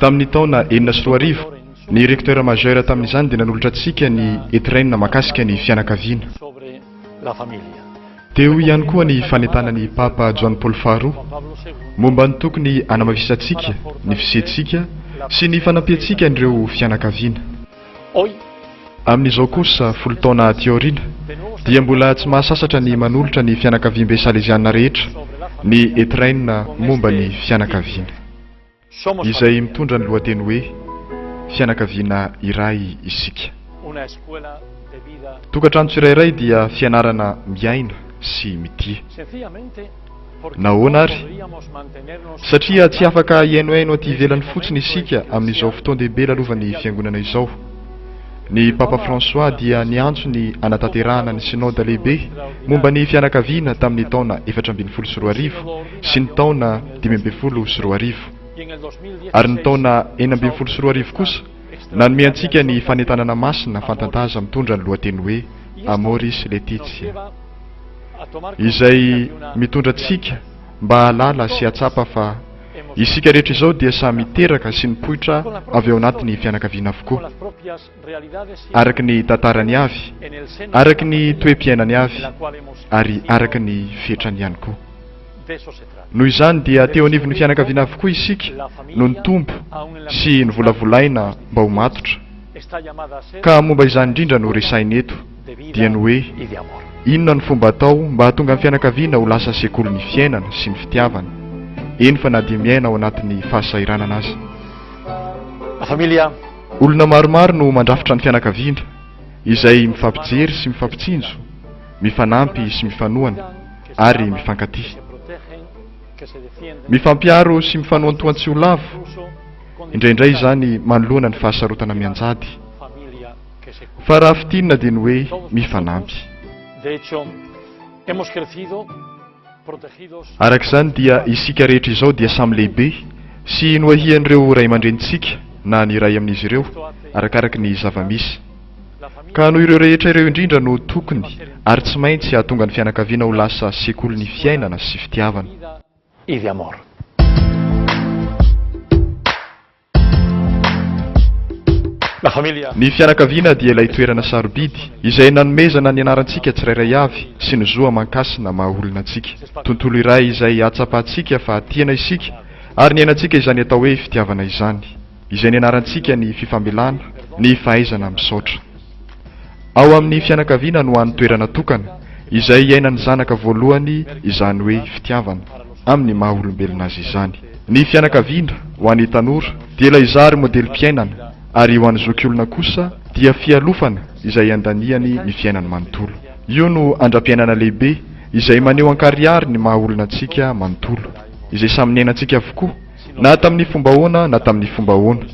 Tamin'ny taona enina sy roa arivo, ny recteur majeur tamin'izany dia nanolotra antsika ny Etrena mahakasika ny fianakaviana. Teo ihany koa ny fanentanana ny Papa Joany Paoly Faharoa momba ny tokony hanamafisantsika ny fisiantsika sy ny fanampiantsika an'ireo fianakaviana. Amin'izao kosa, folo taona aty aoriana, dia mbola tsy mahasasatra ny manolotra ny fianakaviambe salezianina rehetra ny Etrain momba ny fianakaviana. izay mitondra ny lohateny hoe Fianakaviana iray isika. Tokantrano tsirairay dia fianarana miaina sy mitia. Nahoana ary? Satria tsy afaka hihainohaino aty ivelany fotsiny isika amin'izao fotoan-dehibe lalovan'ny Fiangonana izao. Ny Papa François dia niantso ny hanatanterahana ny Synoda Lehibe momba ny Fianakaviana tamin'ny taona efatra ambin'ny folo sy roa arivo, sy ny taona dimy ambin'ny folo sy roa arivo. Ary ny taona enina ambin'ny folo sy roa arivo kosa nanome antsika ny fanentanana masina fantantaza mitondra ny lohateny hoe Amoris Laetitia, izay mitondra antsika mba hahalala sy hahatsapa fa isika rehetra izao dia samy teraka sy nipoitra avy ao anatin'ny fianakaviana avokoa. araka ny tantarany avy, araka ny toe-piainany avy ary araka ny fetrany ihany koa. Noho izany dia teo anivon'ny fianakaviana avokoa isika no nitombo sy novolavolaina mba ho matotra. Ka momba izany indrindra no resahina eto, dia ny hoe inona no fomba atao mba hahatonga ny fianakaviana ho lasa sekolin'ny fiainana sy ny fitiavana, eny fa na dia miaina ao anatin'ny fahasahiranana aza. Olona maromaro no mandrafitra ny fianakaviana, izay mifampijery sy mifampitsinjo, mifanampy sy mifanohana, ary mifankatia. Mifampiaro sy mifanoantoan-tsy ho lavo, indraindray izany manoloana ny fahasarotana mianjady. Fa raha fintinina dia ny hoe mifanampy. Araka izany dia isika rehetra izao dia samy lehibe sy noahian'ireo ray aman-drenintsika na ny iray amin'izy ireo, arakaraka ny zava-misy. Ka noho ireo rehetra ireo indrindra no tokony ary tsy maintsy hahatonga ny fianakaviana ho lasa sekolin'ny fiainana sy fitiavana. Ivy Amor. Ny fianakaviana dia ilay toerana sarobidy izay nanomezana ny anarantsika tsirairay avy sy ny zo aman-kasina maha olona antsika. Tontolo iray izay ahatsapantsika fa tiana isika ary niainantsika izany atao hoe fitiavana izany. Izay nianarantsika ny fifamelana, ny fahaizana misaotra. Ao amin'ny fianakaviana no hany toerana tokana, izay iainan'ny zanaka voalohany izany hoe fitiavana, amin'ny maha olombelona azy izany. Ny fianakaviana, ho an'ny tanora, dia ilay zary modelim-piainana, ary ho an'ny zokiolona kosa dia fialofana izay andaniany ny fiainany manontolo. Io no andram-piainana lehibe izay maneho ankarihary ny maha olona antsika manontolo, izay samy niainantsika avokoa, na tamin'ny fomba ahoana na tamin'ny fomba ahoana.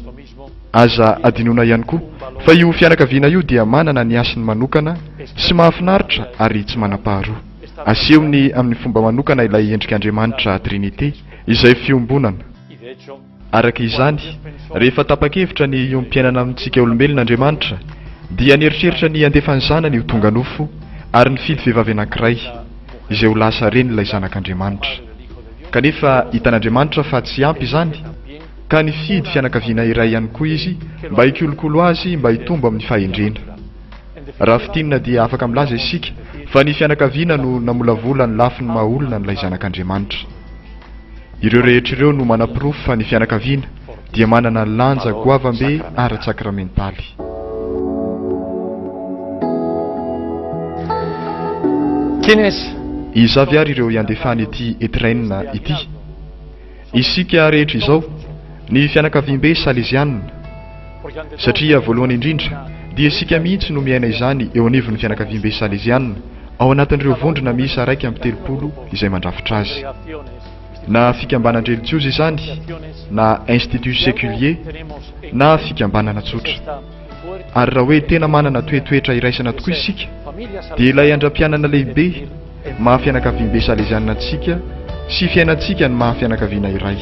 Aza adinoina ihany koa fa io fianakaviana io dia manana ny hasiny manokana sy mahafinaritra ary tsy manam-paharoa. Asehony amin'ny fomba manokana ilay endrik'Andriamanitra Trinite, izay fiombonana. Araka izany, rehefa tapa-kevitra ny hiompiainana amintsika olombelona Andriamanitra, dia nieritreritra ny handefa ny Zanany ho tonga nofo ary nifidy vehivavy anankiray, izay ho lasa ren'ilay Zanak'Andriamanitra. Kanefa, hitan'Andriamanitra fa tsy ampy izany. ka nifidy fianakaviana iray ihany koa izy mba hikolokolo azy mba hitombo amin'ny fahendrena. Raha fintinina dia afaka milaza isika fa ny fianakaviana no namolavola ny lafiny maha olona an'ilay Zanak'Andriamanitra. Ireo rehetra ireo no manaporofo fa ny fianakaviana dia manana lanja goavambe ara-tsakramentaly. Iza avy ary ireo iandefan'ity Etrain ity? Isika rehetra izao, ny fianakaviambe salezianina, satria voalohany indrindra dia isika mihitsy no miaina izany eo anivon'ny fianakaviambe salezianina ao anatin'ireo vondrona miisa iraika amby telopolo izay mandrafitra azy. Na fikambanan-drelijiozy izany, na institut séculier, na fikambanana tsotra. Ary raha hoe tena manana toetoetra iraisana tokoa isika, dia ilay andram-pianana lehibe maha fianakaviambe Salezianina antsika sy fiainantsika ny maha fianakaviana iray.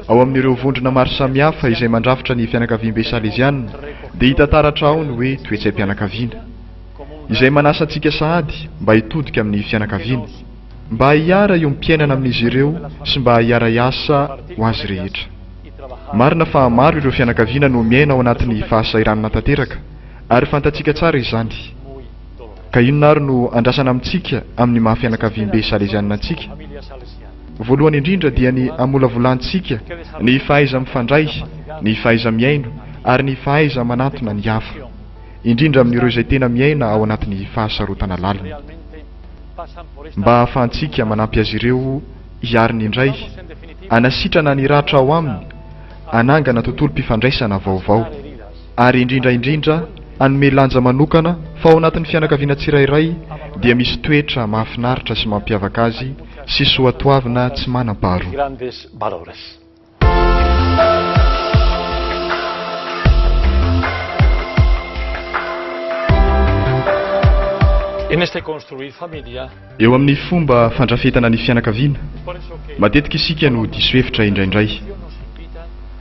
Ao amin'ireo vondrona maro samihafa izay mandrafitra ny fianakaviambe Salezianina dia hita taratra ao ny hoe toetsaim-pianakaviana, izay manasa antsika sahady mba hitodika amin'ny fianakaviana. mba hiara io mpiainana amin'izy ireo sy mba hiara hiasa ho azy rehetra. Marina fa maro ireo fianakaviana no miaina ao anatin'ny fahasahiranana tanteraka ary fantatsika tsara izany. Ka inona ary no andrasana amintsika amin'ny maha fianakaviambe Salezianina antsika? Voalohany indrindra dia ny hamolavolantsika ny fahaiza-mifandray, ny fahaiza-mihaino ary ny fahaiza-manantona ny hafa, indrindra amin'ireo izay tena miaina ao anatin'ny fahasarotana lalina. mba hahafahantsika manampy azy ireo hiaro ny indray, hanasitrana ny ratra ao aminy, hanangana tontolom-pifandraisana vaovao, ary indrindra indrindra hanome lanja manokana fa ao anatin'ny fianakaviana tsirairay dia misy toetra mahafinaritra sy mampiavaka azy sy soatoavina tsy manam-paharoa. Eo amin'ny fomba fandrafetana ny fianakaviana, matetika isika no diso hevitra indraindray.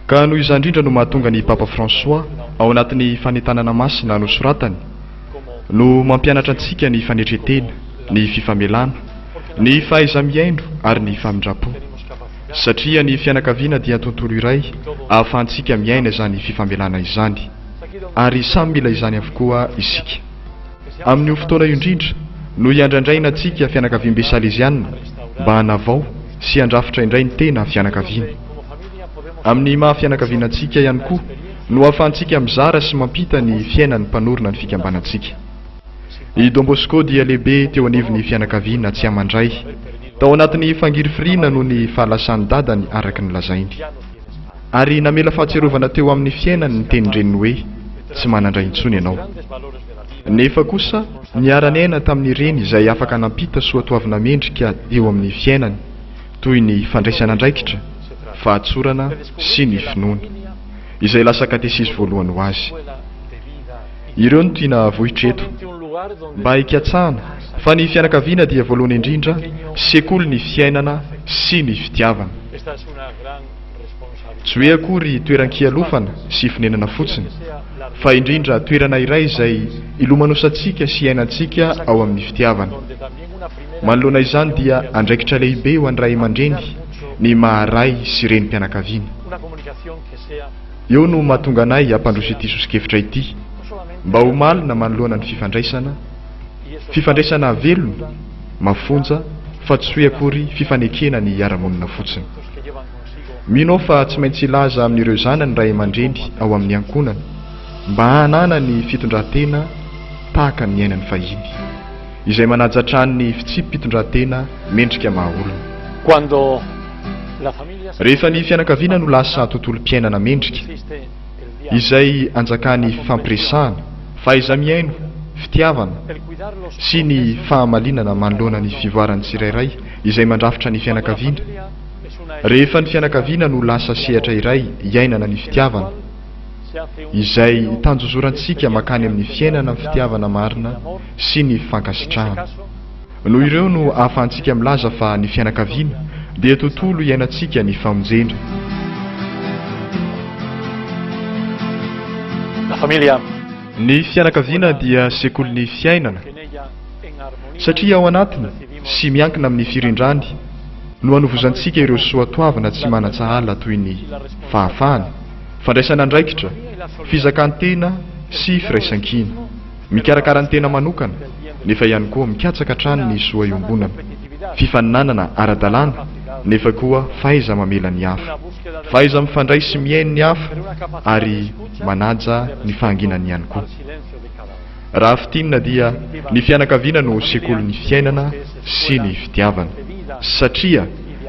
Ka noho izany indrindra no mahatonga ny Papa François ao anatin'ny fanentanana masina nosoratany no mampianatra antsika ny fanetren-tena, ny fifamelana, ny fahaiza-mihaino ary ny famindram-po. Satria ny fianakaviana dia tontolo iray ahafahantsika miaina izany fifamelana izany. Ary samy mila izany avokoa isika. Amin'io fotoana io indrindra no iandrandraina antsika fianakaviambe Saleziana mba hanavao sy handrafitra indray ny tena fianakaviana. Amin'ny maha fianakaviana antsika ihany koa no ahafahantsika mizara sy mampita ny fiainan'ny mpanorina ny fikambanantsika. I Don Bosco dia lehibe teo anivon'ny fianakaviana tsy aman-dray. Tao anatin'ny fangirifiriana noho ny fahalasan'ny dadany, araka ny lazainy. Ary namela fahatsiarovana teo amin'ny fiainany ny tenin-dreniny hoe, Tsy manan-dray intsony ianao. Nefa kosa, niara-niaina tamin'ny reny izay afaka nampita soatoavina mendrika eo amin'ny fiainany, toy ny fandraisana andraikitra, fahatsorana, sy ny finoana, izay lasa katesisy voalohany ho azy. Ireo no tiana havohitra eto. Mba hikatsahana fa ny fianakaviana dia voalohany indrindra, sekoly ny fiainana sy ny fitiavana. Tsy hoe akory toeran-kialofana sy fonenana fotsiny, fa indrindra toerana iray izay ilomanosantsika sy iainantsika ao amin'ny fitiavana. Manoloana izany dia andraikitra lehibe ho an'ny ray aman-dreny ny maha ray sy renim-pianakaviana. Eo no mahatonga anay hampandroso ity soso-kevitra ity mba ho malina manoloana ny fifandraisana, fifandraisana velona, mafonja fa tsy hoe akory fifanekena ny hiara-monina fotsiny. Mino aho fa tsy maintsy hilaza amin'ireo zanany ny ray aman-dreny ao amin'ny ankohonana mba hananany fitondran-tena tahaka ny niainany fahiny. Izay manaja hatrany ny fitsipi-pitondrantena mendrika maha olona. Quando la famiglia si. Rehefa ny fianakaviana no lasa tontolom-piainana mendrika, izay anjakan'ny fifampiresahana, fahaiza-mihaino, fitiavana, sy ny fahamalinana manoloana ny fivoaran'ny tsirairay izay mandrafitra ny fianakaviana. Rehefa ny fianakaviana no lasa sehatra iray iainana ny fitiavana. izay itanjozorantsika mankany amin'ny fiainana ny fitiavana marina sy ny fankasitrahana. Noho ireo no ahafahantsika milaza fa ny fianakaviana dia tontolo iainantsika ny famonjena. La famiglia. Ny fianakaviana dia sekolin'ny fiainana, satria ao anatiny sy miankina amin'ny firindrany no anovozantsika ireo soatoavina tsy manan-tsahala toy ny fahafahana, Fandraisana andraikitra, fizakan-tena sy firaisankina. Mikarakara ny tena manokana, nefa ihany koa mikatsaka hatrany ny soa iombonana. Fifaninanana ara-dalàna, nefa koa fahaiza-mamela ny hafa. Fahaiza-mifandray sy mihaino ny hafa ary manaja ny fahanginany ihany koa. Raha fintinina dia ny fianakaviana no sekolin'ny fiainana sy ny fitiavana. Satria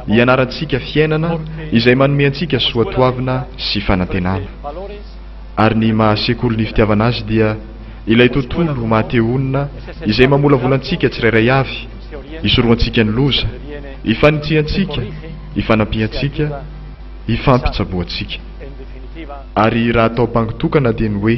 ianarantsika fiainana izay manome antsika soatoavina sy fanantenana. Ary ny maha sekoly ny fitiavana azy dia ilay tontolo maha te honina izay mamolavola antsika tsirairay avy, isorohantsika ny loza, ifanitsihantsika, ifanampiantsika, ifampitsaboantsika. Ary raha atao bango tokana dia ny hoe.